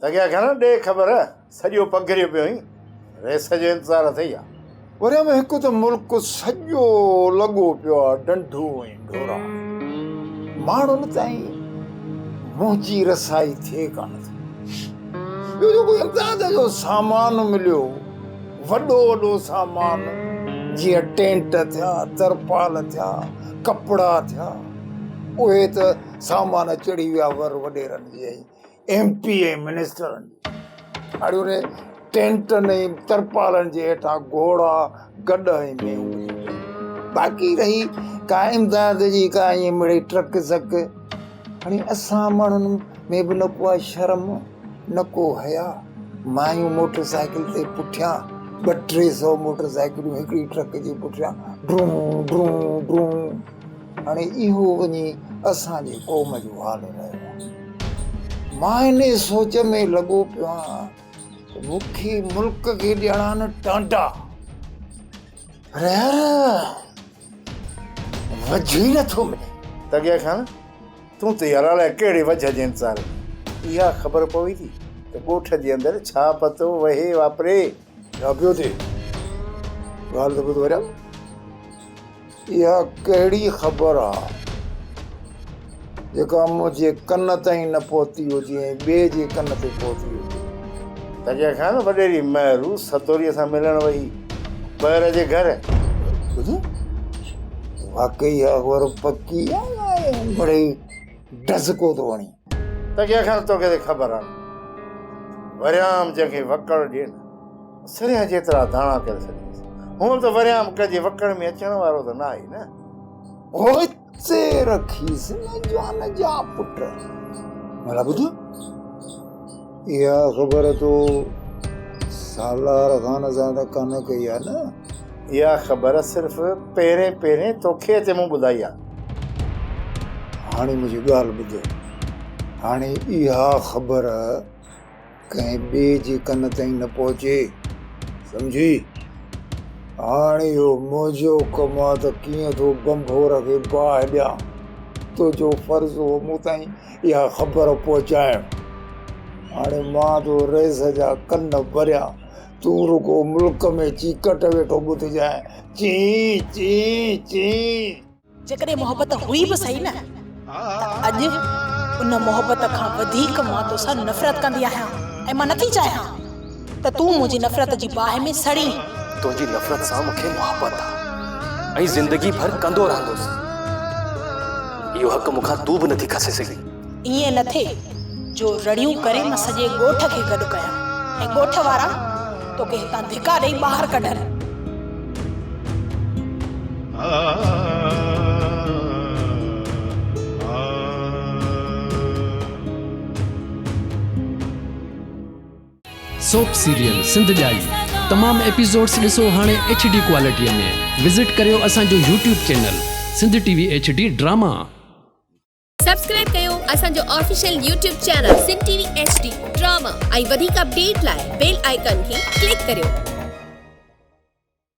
تکي آکيان نه ڏي خبر، سڄو پگهريو پيو هين، ريس جو انتظار اٿئي ها. وري به هڪ ته ملڪ سڄو لڳو پيو آ ڊنڍون ۽ ڍورا، ماڻهن تائين منهنجي رسائي ٿئي ڪانه ٿي. ٻيو جيڪو امداد جو سامان مليو، وڏو وڏو سامان، جيئن ٽينٽ ٿيا، ترپال ٿيا، ڪپڙا ٿيا، اهي ته سامان چڙهي ويا ور وڏيرن جا. ايم پي اي منسٽرن اھڙي ٽينٽن ۽ ترپالن جي ھيٺان گھوڙا، گڏھ ۽ مينھون ٻڌي پيا. باقي رھي ڪا امداد جي ڪا ائين مڙئي ٽرڪ زڪ. ھاڻي اسان ماڻھن ۾ به نه ڪو آھي شرم، نه ڪو حيا. مايون موٽر سائيڪل تي پٺيان ٻه ٽي سئو موٽر سائيڪلون ھڪڙي ٽرڪ جي پٺيان ڊرون ڊرون ڊرون. هاڻي اهو وڃي اسان جي قوم جو حال رهيو آهي. مان انهي سوچ ۾ لڳو پيو آهيان ته مون کي ملڪ کي ڏيڻا نه ٽانٽا رهيا رهيا وجهه ئي نٿو ملي. تگيا خان، تون ته يار الائي ڪهڙي وجهه جي انتظار ۾ اها خبر پوي ٿي ته ڳوٺ جي اندر ڇا پتو وهي واپري. ڇا پيو ٿئي؟ ڳالهه ته ٻڌ وريا، اها ڪهڙي خبر آ، جيڪا منهنجي ڪن تائين نه پهتي هجي ۽ ٻئي جي ڪن تي پهتي هجي؟ تنهنجي اکيان نه وڏيري مهرو سدوريء سان ملڻ وئي پهر جي گهر. ٻڌو، واقعي اها خبر پڪي آ يا مڙئي ڊزڪو ٿو هڻي؟ ته ڪنهن کان توکي ته خبر آ وريام جنهن کي وڪڙ ڏي نه سرهه جيترا داڻا ڪري ڇڏينس هونء ته وريام ڪنهن جي وڪڙ ۾ اچڻ وارو ته ناهي نه هوتي رکيس نه جان جا پٽ ڀلا ٻڌ اها خبر تو سالار خان سان ته ڪانه ڪئي آهي نه؟ اها خبر صرف پهرين پهرين توکي اچي مون ٻڌائي آهي. هاڻي منهنجي ڳالهه ٻڌ. هاڻي اها خبر ڪنهن ٻئي جي ڪن تائين نه پهچي. سمجهي؟ هاڻي اهو منهنجو ڪم آهي ته ڪيئن ٿو بمبور کي باهه ڏيان. تنهنجو فرض هو مون تائين اها خبر پهچايم. هاڻي مان تو رئيس جا ڪن ڀريان، تون رڳو ملڪ ۾ چيڪٽ ويٺو ٻڌجانء، چين چين چين. جيڪڏهن محبت هئي به سهي نه ته اڄ ان محبت کان وڌيڪ مان توسان نفرت ڪندي آهيان ۽ مان نٿي چاهيان ته تون منهنجي نفرت جي باهه ۾ سڙين. تنهنجي نفرت سان مون کي محبت آ ۽ زندگي ڀر ڪندو رهندس. اهو حق مون کان تون به نٿي کسي سگهين. ائين نه ٿئي جو رڙيون ڪري مان سڄي ڳوٺ کي گڏ ڪيان ۽ ڳوٺ وارا توکي هتان ڌڪا ڏئي ٻاهر ڪڍن. سوپ سيريل سنڌ ڄائي تمام ايپيسوڊس ڏسو هاڻي ايڇ ڊي ڪوالٽيء ۾ وزٽ ڪريو اسان جو YouTube channel Sindh T V H D drama. Subscribe ڪيو اسان جو official YouTube channel Sindh T V H D drama ۽ وڌيڪ اپڊيٽ لاء بيل آئيڪان کي ڪلڪ ڪريو.